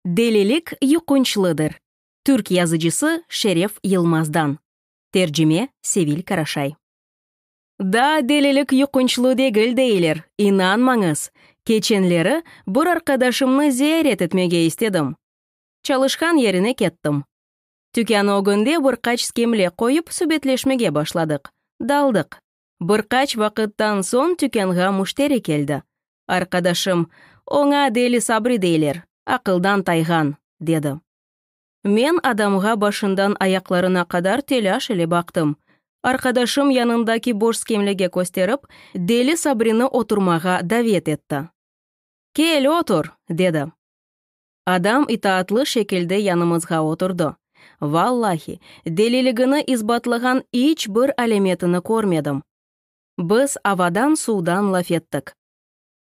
Delilik yuqunçlıdır. Türk yazıcısı Şeref Yılmazdan. Tercime, Sevil Karaşay. Daa delilik yuqunçlı degil deyler, inanmañız! Keçenleri bir arqadaşımnı ziyaret etmege istedim. Çalışqan yerine kettim. Tükân ögünde bir qaç skemle qoyıp subetleşmege başladıq. Daldıq. Bir qaç vaqıttan soñ tükânğa müşteri keldi. Arqadaşım, Oña Deli Sabri deyler, aqıldan tayğan, dedi. Men adamğa başından ayaqlarına qadar telâş ile baqtım. Arqadaşım yanındaki boş skemlege kösterip, Deli Sabrini oturmağa davet etti. Kel, otur! dedi. Adam itaatlı şekilde yanımızğa oturdı. Vallahi, deliligini isbatlağan iç bir alâmetini körmedim. Biz avadan-suvdan laf ettik.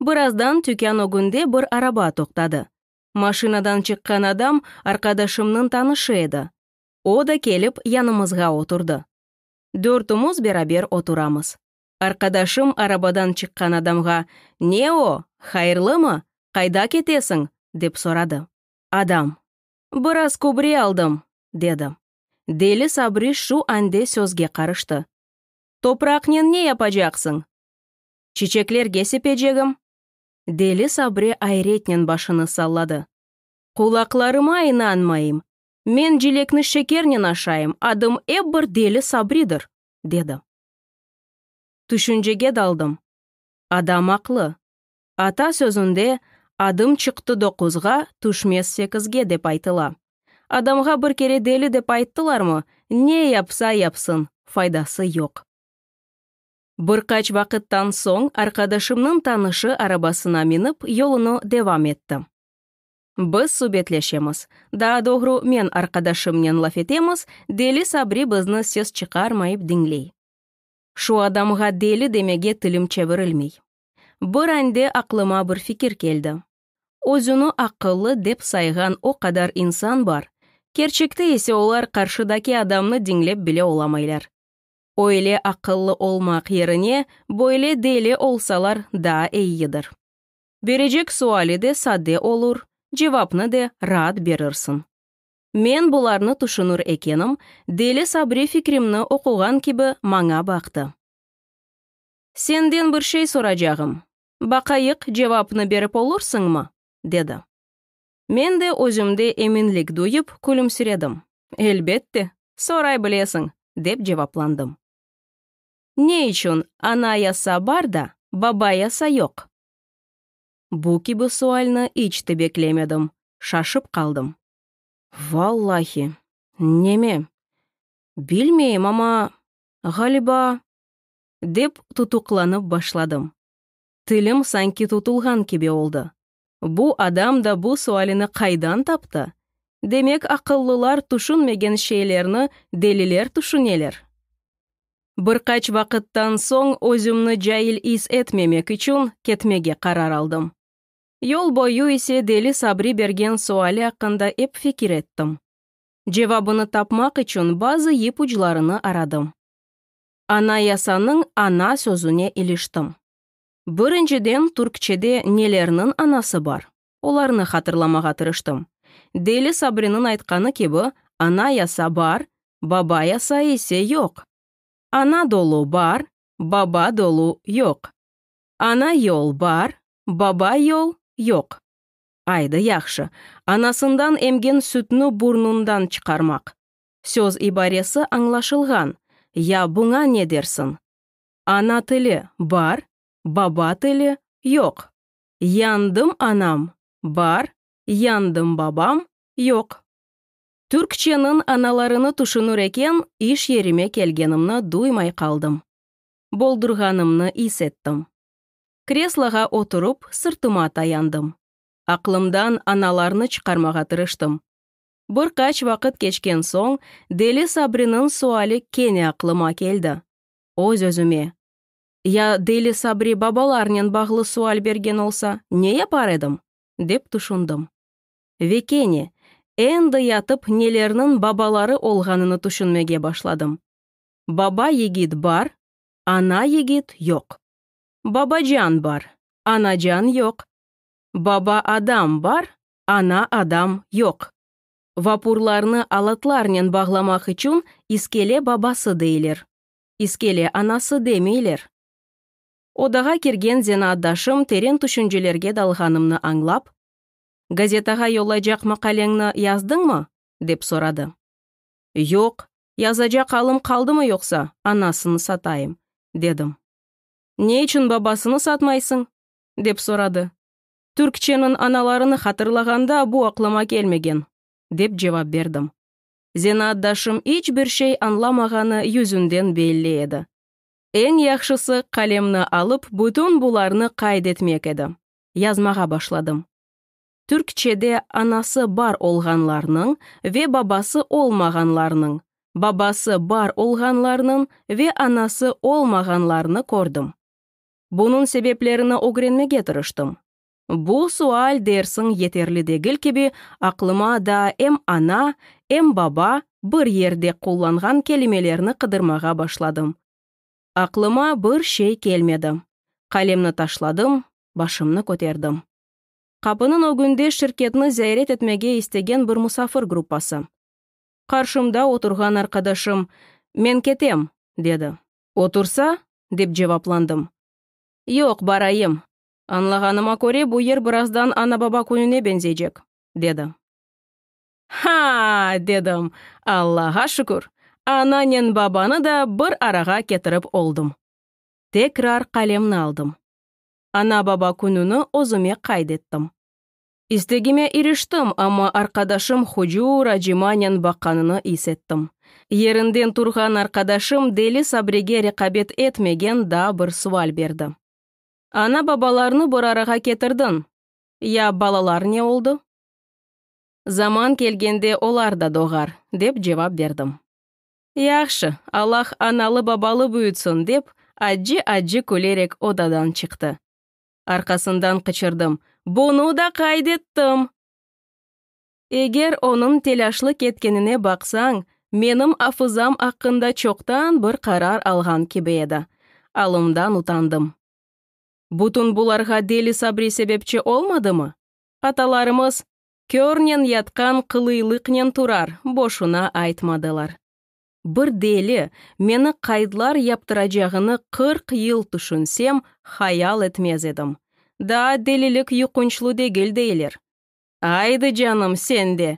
Birazdan tükân ögünde bir araba toqtadı. Maşinadan çıqqan adam arqadaşımnıñ tanışı edi. O da kelip yanımızğa oturdı. Dörtümiz beraber oturamız. Arqadaşım arabadan çıqqan adamğa, Ne o, hayırlımı? Qayda ketesiñ? dep soradı. Adam, Biraz kübre aldım, dedi. Deli Sabri şu ande sözge qarıştı, Topraqnen ne yapacaqsıñ? Çiçeklerge sepecegim. Deli Sabri ayretnen başını salladı, Qulaqlarıma inanmayım! Men cilekni şekernen aşayım, adım ep bir Deli Sabridir! dedi. Tüşüncege daldım. Adam aqlı. Ata sözünde, Adım çıqtı doquzğa, tüşmez sekizge, dep aytıla. Adamğa bir kere deli dep ayttılarmı, ne yapsa yapsın, faydası yoq. Bir qaç vaqıttan soñ arqadaşımnıñ tanışı arabasına minip, yolunı devam etti. Biz subetleşemiz. Daa doğru, men arqadaşımnen laf etemiz, deli Sabri bizni ses çıqarmayıp diñley. Şu adamğa deli demege tilim çevirilmey. Bir ande aqlıma bir fikir keldi. Özüni aqıllı dep sayğan o qadar insan bar, kerçekte ise olar qarşıdaki adamnı diñlep bile olamaylar. Öyle aqıllı olmaq yerine böyle deli olsalar daa eyidir. Berecek suali de sade olur, cevapnı de raat berirsiñ. Men bularnı tüşünür ekenim, Deli Sabri fikrimni oquğan kibi maña baqtı. Senden bir şey soracağım, baqayıq, cevapnı berip olursiñmi? dedi. Men de özümde eminlik duyıp, külümsiredim. Elbette, soray bilesiñ, dep cevaplandım. Ne içün Anayasa bar da, Babayasa yoq? Bu kibi sualni iç te beklemedim, şaşıp qaldım. Vallahi, neme, bilmeyim, amma, ğaliba, dep tutuqlanıp başladım. Tilim sanki tutulğan kibi oldı, Bu adam da bu sualini qaydan taptı? Demek, aqıllılar tüşünmegen şeylerni deliler tüşüneler? Bir qaç vaqıttan soñ özümni cail is etmemek içün ketmege qarar aldım. Yol boyu ise deli Sabri bergen suali aqqında ep fikir ettim. Cevabını tapmaq içün bazı ipuclarını aradım. Anayasanıñ ana sözüne iliştim. Birinciden, türkçede nelerniñ anası bar, olarnı hatırlamağa tırıştım. Deli Sabriniñ aytqanı kibi, anayasa bar, babayasa ise yoq. Ana dolu bar, baba dolu yoq. Ana yol bar, baba yol yoq. Aydı, yahşı, anasından emgen sütni burnundan çıqarmaq. Söz ibaresi añlaşılğan, ya buña ne dersiñ? Ana tili, bar, baba tili, yoq. Yandım anam, bar, yandım babam, yoq. Türkçeniñ analarını tüşünür eken, iş yerime kelgenimni duymay qaldım. Boldurğanımnı is ettim. Kresloğa oturıp, sırtıma tayandım. Aqlımdan analarnı çıqarmağa tırıştım. Bir qaç vaqıt keçken soñ, Deli Sabriniñ suali kene aqlıma keldi. öz-özüme. Ya Deli Sabri babalarnen bağlı sual bergen olsa, ne yapar edim? dep tüşündim. Ve kene, endi yatıp nelerniñ babaları olğanını tüşünmege başladım. Baba yigit bar, ana yigit yoq. Babacan bar, anacan yoq. Baba adam bar, ana adam yoq. Vapurlarnı alatlarnen bağlamaq içün iskele babası deyler. İskele anası demeyler. Odağa kirgen zenaatdaşım teren tüşüncelerge dalğanımnı añlap, Gazetağa yollaycaq maqaleñni yazdıñmı? dep soradı. Yoq, yazacaq alım qaldımı yoqsa, anasını satayım, dedim. Ne içün babasını satmaysıñ? dep soradı. Türkçeniñ analarını hatırlağanda bu aqlıma kelmegen, dep cevap berdim. Zenaatdaşım iç bir şey añlamağanı yüzünden belli edi. Eñ yahşısı qalemni alıp bütün bularnı qayd etmek edi. Yazmağa başladım. Türkçede anası bar olğanlarnıñ ve babası olmağanlarnıñ, babası bar olğanlarnıñ ve anası olmağanlarnı kördim. Bunıñ sebeplerini ögrenmege tırıştım. Bu sual dersiñ yeterli degil kibi aqlıma daa em ana, em baba bir yerde qullanğan kelimelerni qıdırmağa başladım. Aqlıma bir şey kelmedi. Qalemni taşladım, başımnı köterdim. Qapınıñ ögünde şirketni ziyaret etmege istegen bir musafir gruppası. Qarşımda oturğan arqadaşım, Men ketem, dedi. Otursa? dep cevaplandım. Yoq, barayım. Añlağanıma köre, bu yer birazdan Ana-baba kününe beñzecek, dedi. Ha-a! dedim. Allağa şükür, ananen babanı da bir arağa ketirip oldım. Tekrar qalemni aldım. Ana-baba kününi özüme qayd ettim. İstegime iriştim, amma arqadaşım hucur acimanen baqanını is ettim. Yerinden turğan arqadaşım deli Sabrege reqabet etmegen daa bir sual berdi, Ana-babalarnı bir arağa ketirdiñ, ya balalar ne oldu? Zaman kelgende olar da doğar, dep cevap berdim. Yahşı, Allah analı-babalı büyütsin, dep acı-acı külerek odadan çıqtı. Arqasından qıçırdım, Bunı da qayd ettim! Eger onıñ telâşlı ketkenine baqsañ, menim afızam aqqında çoqtan bir qarar alğan kibi edi. Alımdan utandım. Bütün bularğa Deli Sabri sebepçi olmadımı? Atalarımız, Körnen yatqan qılıylıqnen turar, boşuna aytmadılar. Bir deli, meni qaydlar yaptıracağını qırq yıl tüşünsem, hayal etmez edim. Daa delilik yuqunçlı degil, deyler. Aydı canım, sen de!